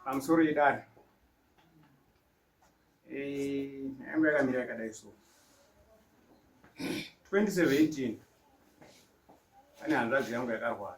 I'm sorry, Dad. Eh, yangu yakamira yakadai so 2017 pane hanzvadzi yangu yakarwara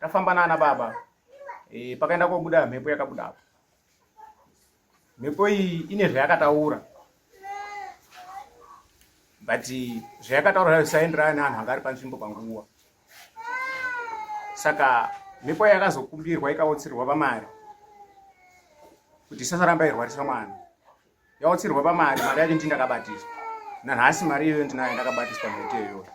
tafamba nana baba e, pakaenda kobuda mhepo yakabuda apo mhepo iyi ine zvayakataura but zvayakataura zvayo zvisaenderana neanhu anga ari panzvimbo panguva saka mhepo yakazokumbirwa ikaotsirwa pamari kuti isasaramba irwarisa mwana yautsirwa pamari mari yacho ndii ndakabatiswa nanhasi mari iyoyo ndinayo ndakabatiswa mhete iyoyo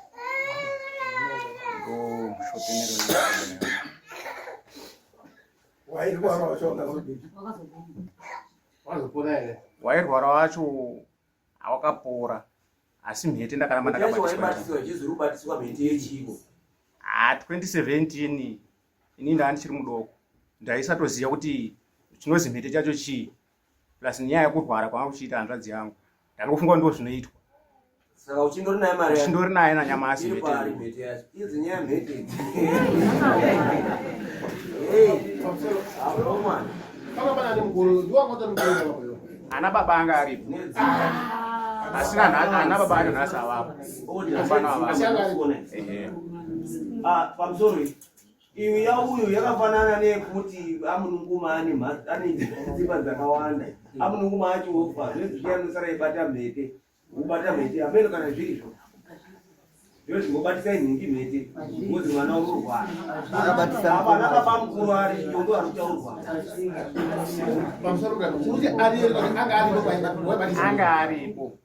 wairwara wacho awakapora asi mhete ndakaramba ndakabatiswa 2017 ini ndaa ndichiri mudoko ndaisatoziva kuti chinozi mhete chacho chii plus nyaya yekurwara kwanga kuchiita hanzvadzi yangu ndangofunga ndo zvinoitwa saka uchindori naye mari uchindori naye nanyamasi ana baba anga aripo asina ana baba acho nhasi avapo pamusoro Iyo yauyo yakafanana neyekuti amununguma ane ane dzimba dzakawanda amununguma acho ofa zvezvii anosara ibata mhete ubata mhete ameno kana zvirizvo zviro zvingobatisa inhingi mhete ngozi mwana unorwara apana baba mukuru ari yondo ari kutaurwa pamusoro kuti ariyo anga aripo anga aripo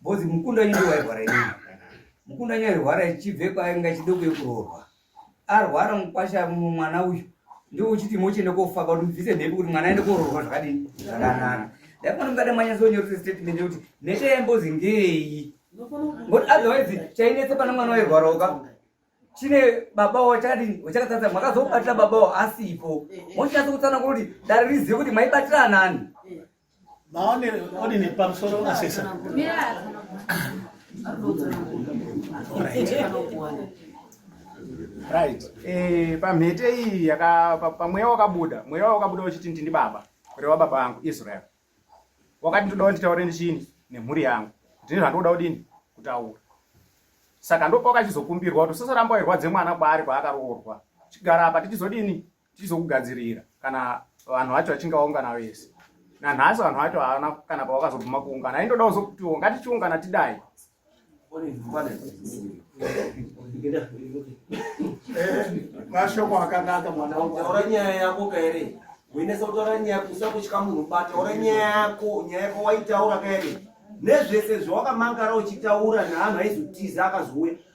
bozi mukunda nyundo wairwara ini mukunda nyairwara ichibve kwainga chidoko yekuroorwa arwara mukwasha mwana uyu ndiwo uchiti mochienda kofaka kuti mubvise mhepo kuti mwana aende koroorwa zvakadini zvakanaka ndaifana mukada manyasonyorese statement yekuti mhete yambozi ngei ngokuti otherwise chainetse pana mwana wairwara uka chine baba wavo chakadini wachakatadza makazobatira baba wavo asipo mochinatsa kutsanangura kuti dare rizive kuti maibatira anani Maone odi ni pamsoro na sesa. Right. Eh, pa mhete iyi yaka pa mweya wakabuda, mweya wakabuda uchiti ndini baba, kuri wa baba wangu Israel. Wakati ndoda kuti taure ndichini nemhuri yangu. Ndini zvandoda udini kutaura. Saka ndopoka chizokumbirwa kuti usasaramba irwadze mwana kwaari kwaakaroorwa. Chigara apa tichizodini tizokugadzirira kana vanhu vacho vachinge vaungana vese nanhasi vanhu vacho havana kana pavakazobvuma kuungana aindoda kuzokutiwo ngatichiungana tidai mashoko akanaka mwana utaura nyaya yako kaere uinesa kutaura nyaya yako usa kutya munhu bata taura nyaya yako nyaya yako waitaura kaere nezvese zvawakamangara uchitaura neanhu aizotiza akazouya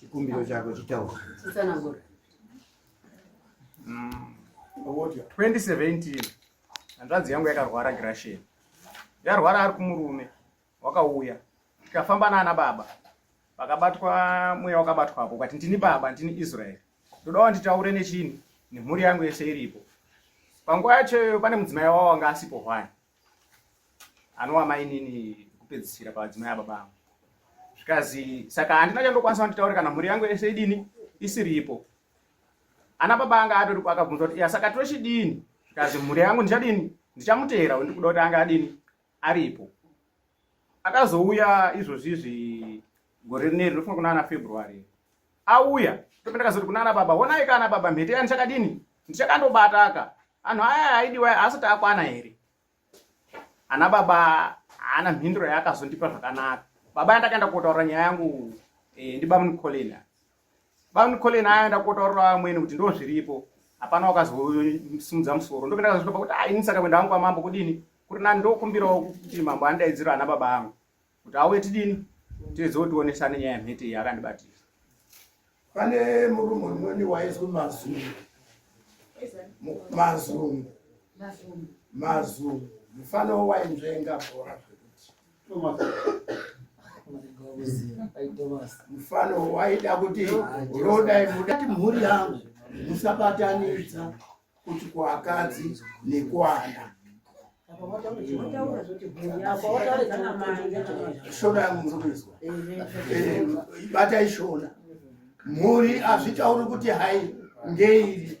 chikumbiro chako chitaura 2017 hanzvadzi yangu yakarwara grashen yarwara ari kumurume wakauya tikafamba naana baba vakabatwa mweya wakabatwapo ukati ndini baba ndini israeri ndoda wanditaure nechini nemhuri yangu yese iripo panguva yachoyo pane mudzimai wavo wanga asipo hwani anova mainini kupedzisira pavadzimai ababa angu zvikazi saka handina chandokwanisa vanditaure kana mhuri yangu yese idini isiripo ana baba anga atori akabvunza kuti saka tochidini zvikazi mhuri yangu ndichadini ndichamuteera ndikuda kuti anga adini aripo akazouya izvozvizvi gore rineri rinofunga kuna ana february auya ndope ndakazoti kuna ana baba honai ka ana baba mhete ya ndichakadini ndichakandobataka anhu aya aidiwa asati akwana here ana baba haana mhinduro yaakazondipa zvakanaka baba yandakaenda kotaura nyaya yangu eh, ndibamunicolin bamunicolin ayaenda kotaurira vamweni kuti ndo zviripo hapana wakazosimudza musoro ndope ndakazotopa kuti aini saka kuenda vangu vamambo kudini kuti nani ndokumbirawo kuti mambo andaidziro ana baba angu kuti auye tidini tizive tionesane nyaya yemhete iyi akandibatira pane murume umweni waizwi mazungu mazungu mazungu mufana wainzvenga bhora mufana waida kuti roda mhuri yangu musabatanidza kuti kuakadzi nekuana shona yangu muzokuizwa ibata ishona mhuri azvitauri kuti hai ngeiri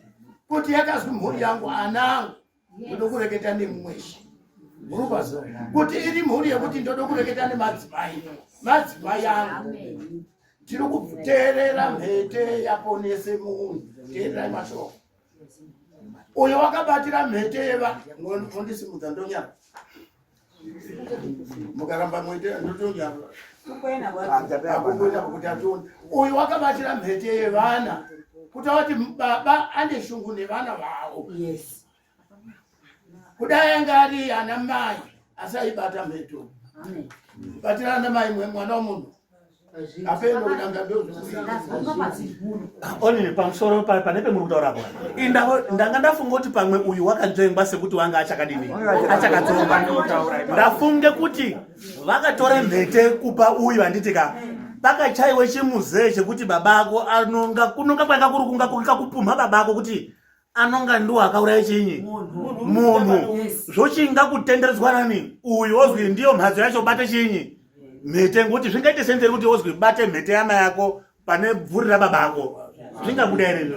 kuti yakazwi mhuri yangu ana angu ndoda kureketa nemumweshi murubazo kuti iri mhuri yekuti ndoda kureketa nemadzimai madzimai angu tiri kuteerera mhete yaponese munhu teererai mashoko uyo wakabatira mhete yeva ondisimudza ndonyara mukaramba mwete ndotonyara uyo wakabatira mhete yevana kuti awati baba ane shungu nevana vavo yes. kudai anga ari ana mai asi aibata mheto kubatira ana mai mwana womunhu onini pamusoro pane pemuri kutaura apa indavo ndanga ndafunga kuti pamwe uyu wakadzvengwa sekuti wanga achakadini achakadzonga ndafunge kuti vakatora mhete kupa uyu vanditika pakachaiwe chimuzee chekuti baba ako anonga kunonga kwanga kuri kunga kukakupumha baba ako kuti anonga ndiwo akauraya chinyi munhu zvochinga kutenderedzwa nani uyu ozwi ndiyo mhatso yacho bate chinyi mhete ngokuti zvingaite senzeri kuti ozwi bate mhete yama yako pane bvuri rababa ako zvingabuda here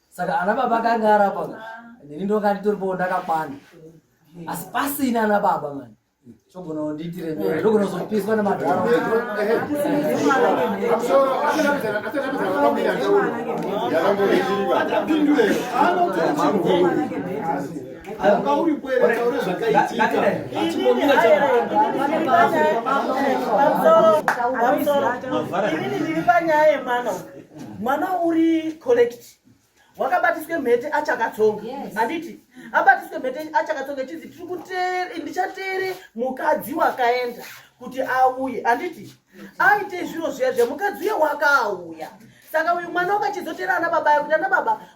saka ana baba akanga arapa nini ndonga nditoripowo ndakakwana asi pasina ana baba mani chogona kundiitire mene ndogona kuzopiswa nemadhara Mavara. Ini ndiri panyaya yemwana uyu. mwana uri collect wakabatiswe mhete achakatsonga handiti abatiswe mhete achakatsonga chinzi tiri kutere ndichatere mukadzi wakaenda kuti auye handiti aite zviro zviya zviya mukadzi uye wakauya saka uyu mwana wakachizotera ana baba yekuti ana baba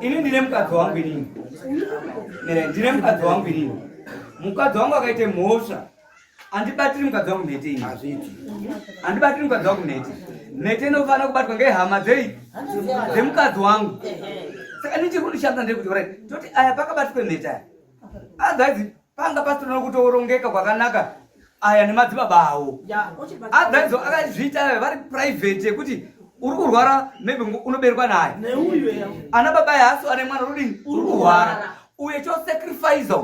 Ini ndine mukadzi wangu inini. Eh, ndine mukadzi wangu inini. Mukadzi wangu akaite mhosva. Andibatiri mukadzi wangu mhete ini. Hazviti. Andibatiri mukadzi wangu mhete. Mhete inofanira kubatwa ngehama dzei? Dzemukadzi wangu. Saka ndichiri kundishanda ndiri kuti, right, toti aya pakabatwa mhete aya. Adhazi ah, panga pasina kutorongeka kwakanaka aya nemadzibaba awo adhaidzo akazviita aya vari private yekuti uri kurwara maybe unoberwa naye ana baba yaasi ane mwana rudini uri kurwara uye chosacrifice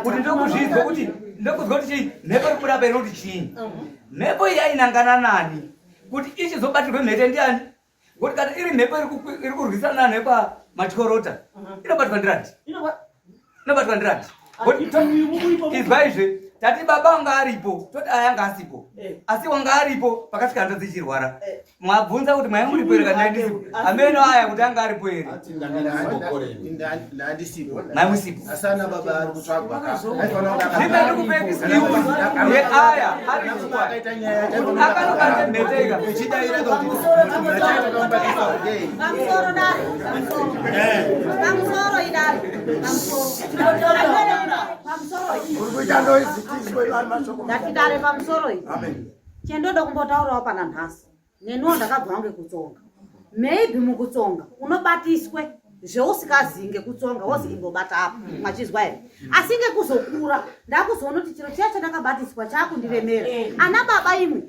kuti ndokuzvinzwa kuti ndokuzwa kuti chii mhepo iri kubuda painoti chii mhepo iyi yainangana nani kuti ichizobatirwe mhete ndiani Ngokuti kana iri mhepo iri kurwisana nepamatikorota mhm. inobatwa ndirati inobatwa ndirati izwaizve tati baba wanga aripo toti ayanga asipo eh. asi wanga aripo pakasvika hanzvadzi ichirwara eh. mwabvunza kuti mwaimuripo here kana ndisipo ameno aya kuti anga aripo here ndatidare pamusoro iyi chendoda kumbotaurawo pana nhasi neniwo ndakabva wange kutsonga maybe mukutsonga unobatiswe zveusikazii ngekutsonga wozi mm. imbobata apo mm. machizwa here mm. asi ngekuzokura ndakuzoona kuti chiro chiya chandakabatiswa chaakundiremera ana baba imwe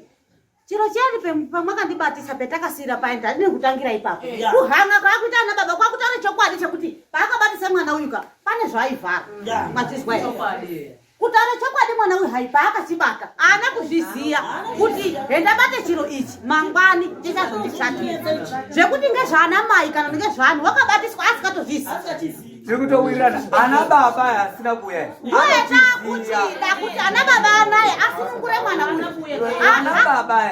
chiro chiyani pamwakandibatisa petakasira paye ndandine kutangira ipapo kuhanga kwakuita ana baba kwakutaura chokwadi chekuti paakabatisa mwana uyuka pane zvaivhara machizwa here kutaura chokwadi mwana uyu hai paakachibata ana kuzviziva kuti hendabate chiro ichi mangwani chichazondishatira zvekuti ngezvaana mai kana ngezvaanhu wakabatiswa asikatozviziva zvekutowirirana ana baba asina kuuya ndoyatakuti dakuti ana baba anaye asunungure mwana uyu ana baba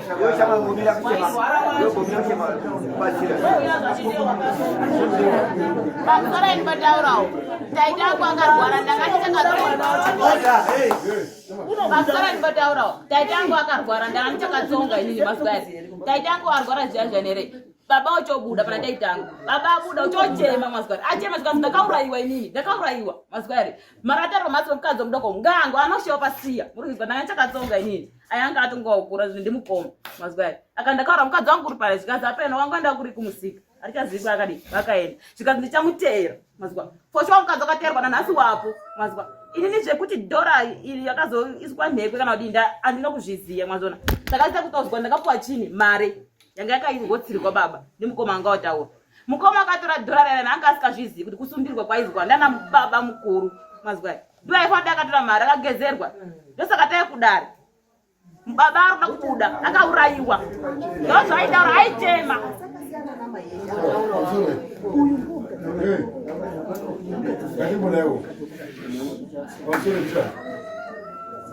pamusaraini pataurawo taita ako akarwara ndakanichakapasaraini pataurawo taita angu akarwara ndakanichakatsonga inini mazuva aya taita angu arwara zviya zvanere baba uchobuda pana taitangu baba abuda uchochema mazuva ari achema zvikanzi ndakaurayiwa inini ndakaurayiwa mazuva ari maratarwa matsomukadzi omudoko ngangu anoshewa pasiya muri kuziva ndanga ndichakatsonga inini ayanga atongokura zvinhu ndimukoma mazwi ayo aka ndakaura mukadzi wangu kuri pale zvikanzi apeno wangu enda kuri kumusika arichazivi kwakadii vakaenda zvikanzi ndichamuteera mazwa foshuwa mukadzi wakateerwa nanhasi wapo mazwa inini zvekuti dhora iri yakazoiswa nhekwe kana kuti nda andina kuzviziva mazona ndakaita kutozwa ndakapuwa chini mari yanga yakaingotsirwa baba ndimukoma anga wataura mukoma akatora dhora rerana anga asikazvizivi kuti kusumbirwa kwaizwa ndana baba mukuru mazwa ndiyo aifana kuti akatora mari akagezerwa ndosaka tai kudare baba arikuda kubuda akaurayiwa ndozvaitaura aitema Hey,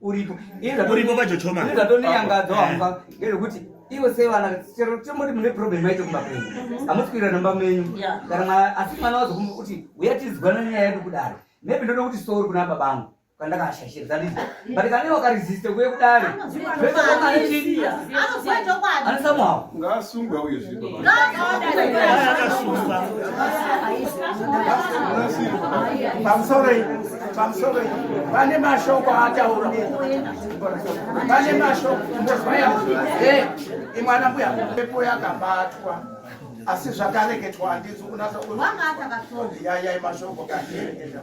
uripo uripo pachochoma ini zvatondiyangadza wamba eh. ngezvekuti ivo sei vana chero chomoti mune problem yacho kumba kwenyu mhm. hamusi kuira nomba menyu kana mwana asi mwana wazokumba kuti uya tizwana nyaya yedu kudaro maybe ndoda kuti sori kuna baba angu kandakashashira zanditi mm. but kane wakaresiste kuye kudare anosamuhawo pamusoroi pamusoroi vane mashoko aataura vane mashoko ndozvaya e imwana mbuya pepo yakabatwa asi zvakareketwa handinzi kunasa yayai mashoko kaeenda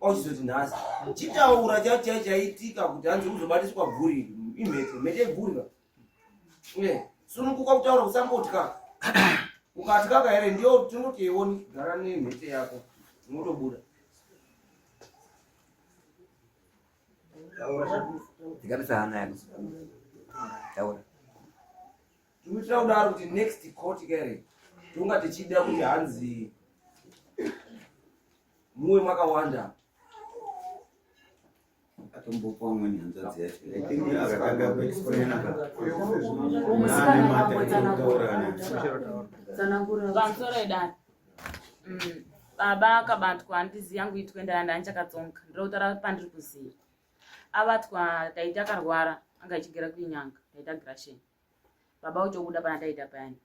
ochizoti nhasi chitaura chachai chaitika kuti hanzi uzobatiswa bvuri imheto mhete bvuriva sunukuka kutaura kusambotya ukatyaka here ndiyo tinoti iwoni gara nemhete yako unotobuda Digamos a Ana Taura. tikuitira kudaro kuti next court kare tonga tichida kuti hanzi muwe makawanda atombopa umweni hanzvadzi yachoaaaaaaaaaaaaa baba akabatwa handizi yangu itwe ndaya ndaya ndichakatsonga ndinotaura pandiri kuziva abatwa taita akarwara anga ichigera kuinyanga taita grasheni baba uchobuda pana taita payani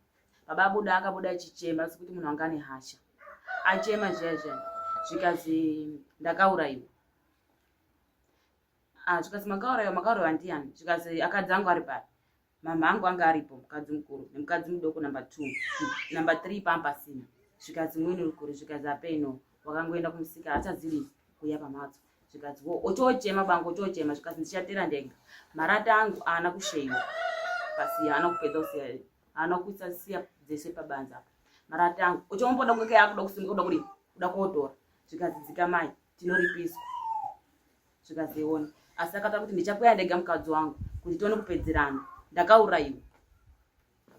baba abuda akabuda achichema asi kuti munhu anga ane hasha achema zviya zviya zvikazi ndakaurayiwa ah, zvikazi makaurayiwa makaurayiwa ndiyani zvikazi akadzi angu ari pari mama angu anga aripo mukadzi mukuru nemukadzi mudoko number two number three pampasina zvikazi mwini uri kuri zvikazi apeino wakangoenda kumusika achazivi kuya pamhatso zvikanzi wo otochema bangu otochema zvikanzi ndichatera ndenga marata angu aana kusheiwa pasi aana kupedza kusiya aana kuisa siya dzese pabanza apa marata angu otomboda kweke yakuda kusimuka kuda kudi kuda kotora zvikanzi dzikamai tinoripiswa zvikanzi ione asi akataura kuti ndichakuya ndega mukadzi wangu kuti tione kupedzerana ndakaurayiwa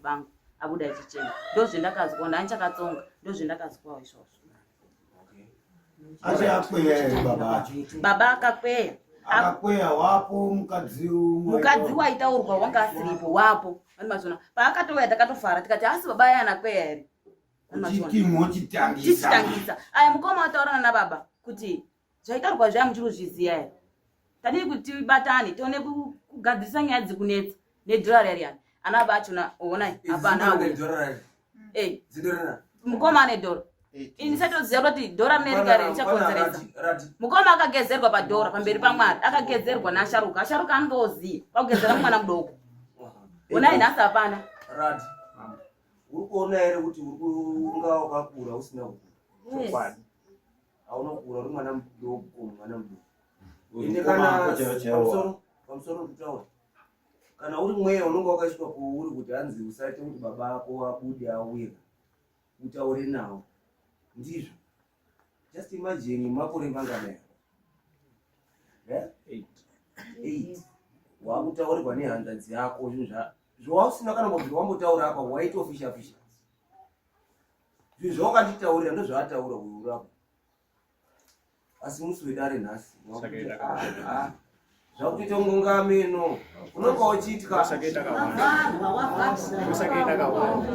vangu abuda achichema ndozvendakazwa nani chakatsonga ndozvendakazwawo izvozvo baba akakweya akakweya wapo mukadzi mukadzi waitaurwa wanga asiripo wapo ani mazvona paakatouya takatofara tikati asi baba aya anakweya here chichitangisa aya mukoma wataurana nababa kuti Zvaitaurwa zviya muchiri kuzviziva here? Tadii kuti tibatane tione kugadzirisa nyaya dziri kunetsa nedhorari yariyani. Ana baba achona ona hapana. Eh. Mukoma ane dhora. Ini satoziva kuti dhora rine rika richakonzeresa. Mukoma akagezerwa padhora pamberi paMwari, akagezerwa naasharuka. Asharuka anenge oziva pakugezera mwana mudoko. Ona nhasi hapana. Rati. Uri kuona here kuti unga wakakura usina kukura. Chokwadi. hauna kukura uri mwana mudoko mwana mudoko ende kana pamusoro kutaura kana uri mweya unenge wakaiswa kuuri kuti hanzi usaite kuti baba ako abude auye utaure nawo ndizvo just imagine makore manganaya eh? eight wakutaurirwa nehanzvadzi yako zvinhu zvawausina kana kuti wambotaura apa waitofisha fisha zvinhu zvawakanditaurira ndozvaataura kuurako asi musi wedare nhasi zvakutoita ngungameno unonga uchitya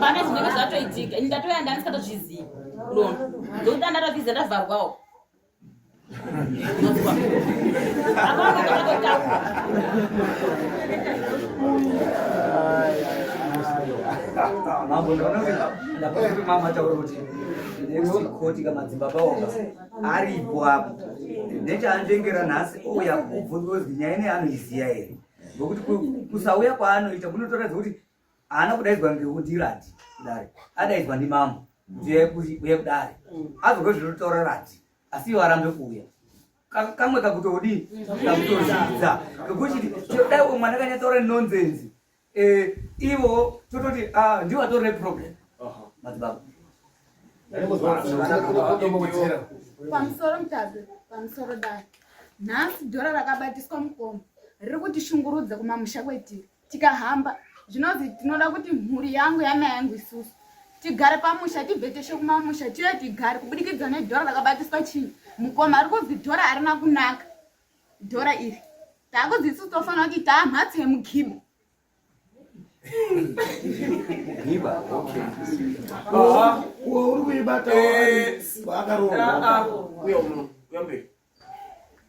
pane zvinenge zvatoitika ini ndatoya ndandisatozvizivi ndona ndokuti andatobviza ndavharwawo mambo ndakuti mama ataura kuti next court kamadzibaba oga aripo apo nechaandengera nhasi ouya kubvunza kuti nyaya ine anoiziya here ngokuti kusauya kwaanoita munotoratidza kuti haana kudaidzwa ngeudhirati kudare adaidzwa ndimambo kuti uye kudare azogwe zvinotaura rati asi ivo arambe kuuya kamwe kakutodii kakutozvidza kekuti dai umwe mwana kanyatsaura nonsense eh, ivo tototi ah, ndiwo atori neproblem uh-huh. madzibaba pamusoro mutazi pamusoro dai nhasi dhora rakabatiswa mukomo riri kuti shungurudza kumamusha kwetiri tikahamba zvinonzi tinoda kuti mhuri yangu yana yangu isusu tigare pamusha tibve teshe kumamusha tiye tigare kubudikidza nedhora rakabatiswa chii mukoma ari kunzi dhora arina kunaka dhora iri takunzi isusu tofanira kuti taa mhatso yemugibo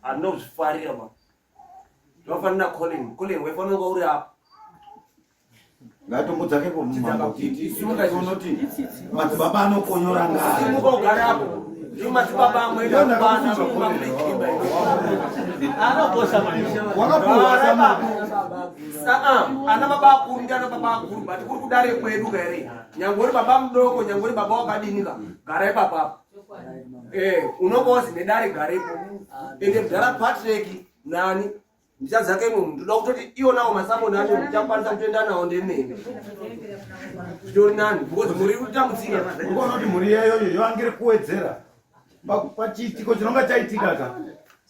anozvifarira ma zvakafanira colin colin waifanira kwauri apa ngatombo dzake pomumaunoti madzibaba anokonyora ngaimuka ugare apo ndiwo madzibaba amweanokosha ana baba akuru ndi ana baba akuru but kuri kudare kwedu kaere nyange uri baba mudoko nyange uri baba wakadinika gara ipapapa Eh, unonga wazi nedare garepo ende mudhara patrick nani ndichadzake imwe munhu ndoda kutoti iwonawo masamoni acho ndichakwanisa kutoenda nawo ndemene zvitori nani because muri kutambudzika ukonoti mhuri yeyoyo yoangiri kuwedzera pachiitiko chinonga chaitika ka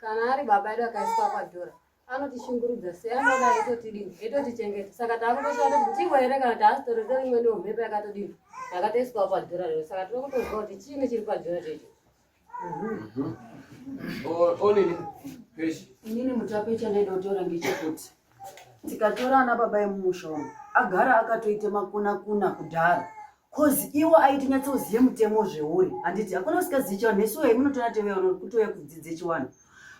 kana ari baba edu akaiswa kwadhora anotishungurudza sei anoda aitotidini aitotichengeta saka takutoshanda kuti tivo here kana taasitori torimweniwo mhepo yakatodini yakatoiswa kwadhora rero saka tiri kutozwa kuti chiini chiri padhora checho onini peshi inini mutape chandaida kutaura ngechekuti tikatora ana baba emumusha umu agara akatoita makunakuna kudhara cause iwo aiti nyatsozive mutemo zveuri handiti hakuna usingazivi chivanhu nesu wei munotora teveano kutouya kudzidze chiwanhu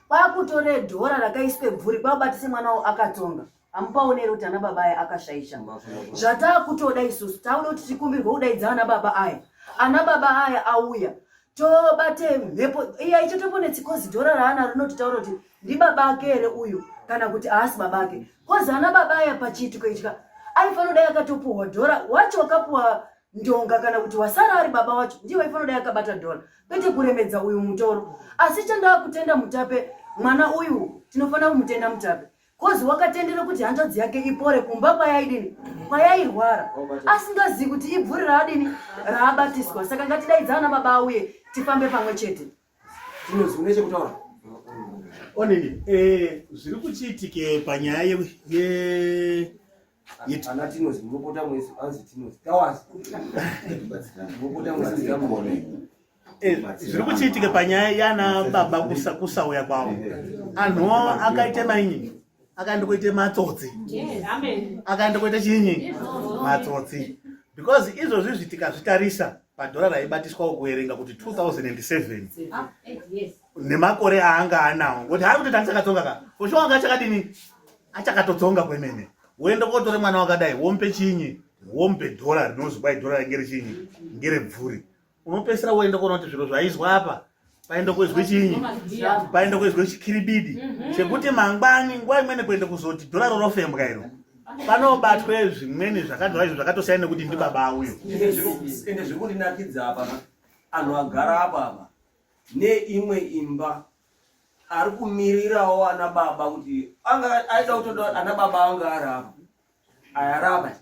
kwakutora dhora rakaiswe bvuri kwabatise mwana wo akatonga amupaone here kuti ana baba aya akashaisha zvataakutoda isusu tauda kuti tikumbirwe kudaidza ana baba aya ana baba aya auya tobate mhepo iya icho toponetsi kozi dhora raana rinototaura kuti ndibaba ake here uyu kana kuti aasi baba ake kozi ana baba aya pachiitiko ichika aifanoda yakatopuhwa dhora wacho wakapuhwa ndonga kana kuti wasara ari baba wacho ndiye waifanoda yakabata dhora kwete kuremedza uyu mutoro asi chandaa kutenda mutape mwana uyu tinofanira kumutenda mutape kozi wakatendera kuti hanzvadzi yake ipore kumba kwayaidini kwayairwara asingazivi kuti ibvuri raadini raabatiswa saka ngatidaidza ana baba auye tifambe pamwe chete zvinozvinechekutaura onini eh, zviri kuchiitike panyaya Yet. Ana Tinozi, munopota mwese, anzi Tinozi. Tawazi. Munopota mwese, ndamone. Eh, zviri kuchiitika panyaya yana baba kusauya kwavo anhu akaita mainyi akaenda kuita matsotsi akaenda kuita chinyi matsotsi because izvozvi zvitikazvitarisa padhora raibatiswa kuverenga kuti 2007 ah, eh, nemakore aanga anawo ngokuti haari kutoita achakatsonga ka fosho wanga achakadini achakatotsonga kwemene woenda kotore mwana wakadai wompe chinyi wompe dhora rinonzi kwai dhora renge richinyi ngerebvuri unopesera woenda kuona kuti zviro zvaizwa apa paenda kuizwe chinyi paenda kuizwe chikiribidi mhm. chekuti mangwani nguva imweni kuenda kuzoti dhora rorofembwa iro panobatwe zvimweni zvakadhora izvo zvakatosiyana nekuti ndibaba uyo ende zviri kundinakidza apa anhu agara apa apa neimwe imba ari kumirirawo ana baba kuti anga aida kutoda ana baba anga arava ayarava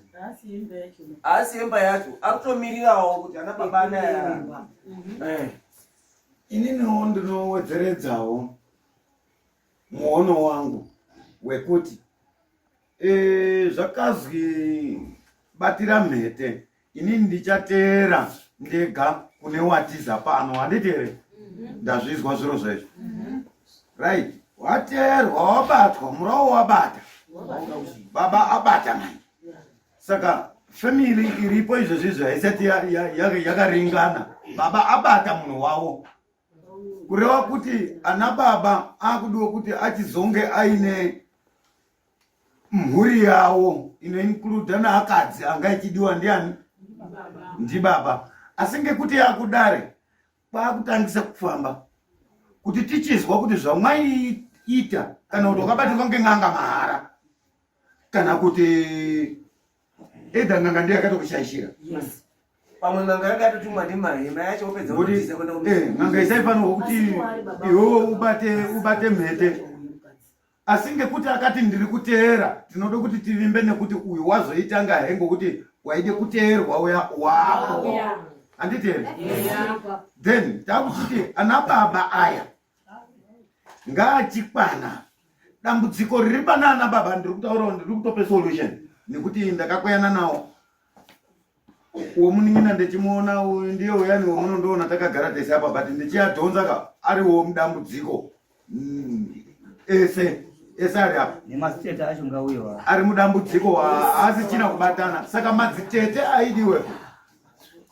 haasi imba yacho ari kutomirirawo kuti ana baba ana ayarava mhm. eh. ininiwo ndinowedzeredzawo muono wangu wekuti eh, zvakazwi batira mhete ini ndichateera ndega kune watiza pano handiti here mhm. ndazvizwa zviro zvezvo mhm. right wateerwa wabatwa murawo wabata baba abata mani saka family iripo izvezvi izvi haisati yakaringana baba abata munhu wavo kureva kuti ana baba akudiwa kuti achizonge aine mhuri yawo inoinkluda naakadzi anga ichidiwa ndiani ndibaba asi ngekuti yakudare kwakutangisa kufamba kuti tichizwa kuti zvamwaiita kana kuti wakabatirwa ngen'anga mahara kana kuti Either nganga ndiye akatokushaishira. Yes. Pamwe nganga yanga yatotumwa ndimahema yacho opedza kutiza kwenda kumba. Eh, nganga isaifanirwa kuti iwo ubate ubate mhete. Asi ngekuti akati ndiri kuteera, tinoda kuti tivimbe nekuti uyu wazoitanga he ngokuti waide kuteerwa uya wako. Anditende? Then takuti ana baba aya ngaachikwana dambudziko riri panana baba ndiri kutaurawo ndiri kutope solution nekuti ndakakweyana nawo womunin'ina ndichimuona uyu ndiye uyani womunondoona takagara tese apa but ndichiadhonza ka ariwo mudambudziko mm, ese ese ari apa nemasitete acho ngauyo ari mudambudziko haasichina kubatana saka madzitete aidiwe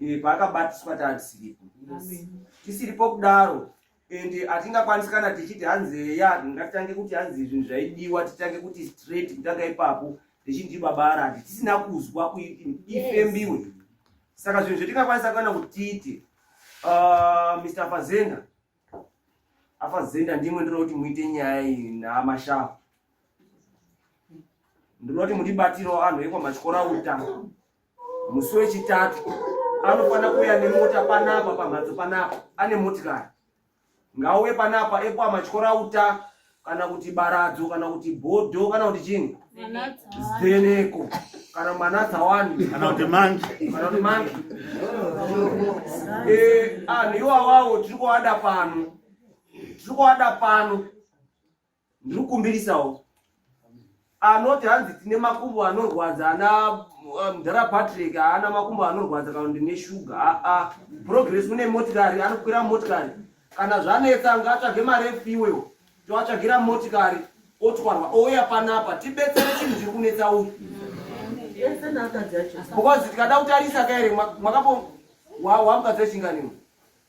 eh, paakabatiswa tatisiripo tisiripo kudaro and hatingakwanisi kana tichiti hanzi heya ngatitange kuti hanzi zvinhu zvaidiwa titange kuti straight kutanga ipapo richinzi baba arati tisina kuzwa kuti ifembiwe yes. saka zvinhu zvetingakwanisa kana kutiti uh, mr fazenda afazenda ndimwe ndinoda kuti muite nyaya iyi namashafu ndinoda kuti mutibatirawo anhu ekwamachikora uta musi wechitatu anofanira kuuya nemota panapa pamhatso panapa ane motikari ngauye panapa epo amatyora uta kana kuti baradzo kana kuti bhodho kana kuti chini zeneko kana mwana dzawani kana kuti mangi kana kuti mangi eh, anhu iwawawo tiri kuwada pano tiri kuwada pano ndiri kukumbirisawo anoti hanzi tine makumbo anorwadza ana eh, mdhara patrick haana makumbo anorwadza kana ndine shuga aa progress une motikari anokwira motikari kana zvanetsa ngaatsvage mari efiwewo toatsvagira motikari otwarwa ouya panapa tibetsere chinhu chiri kunetsa uyu because tikada kutarisa kaere mwakapo wamukadzi wechinganiwo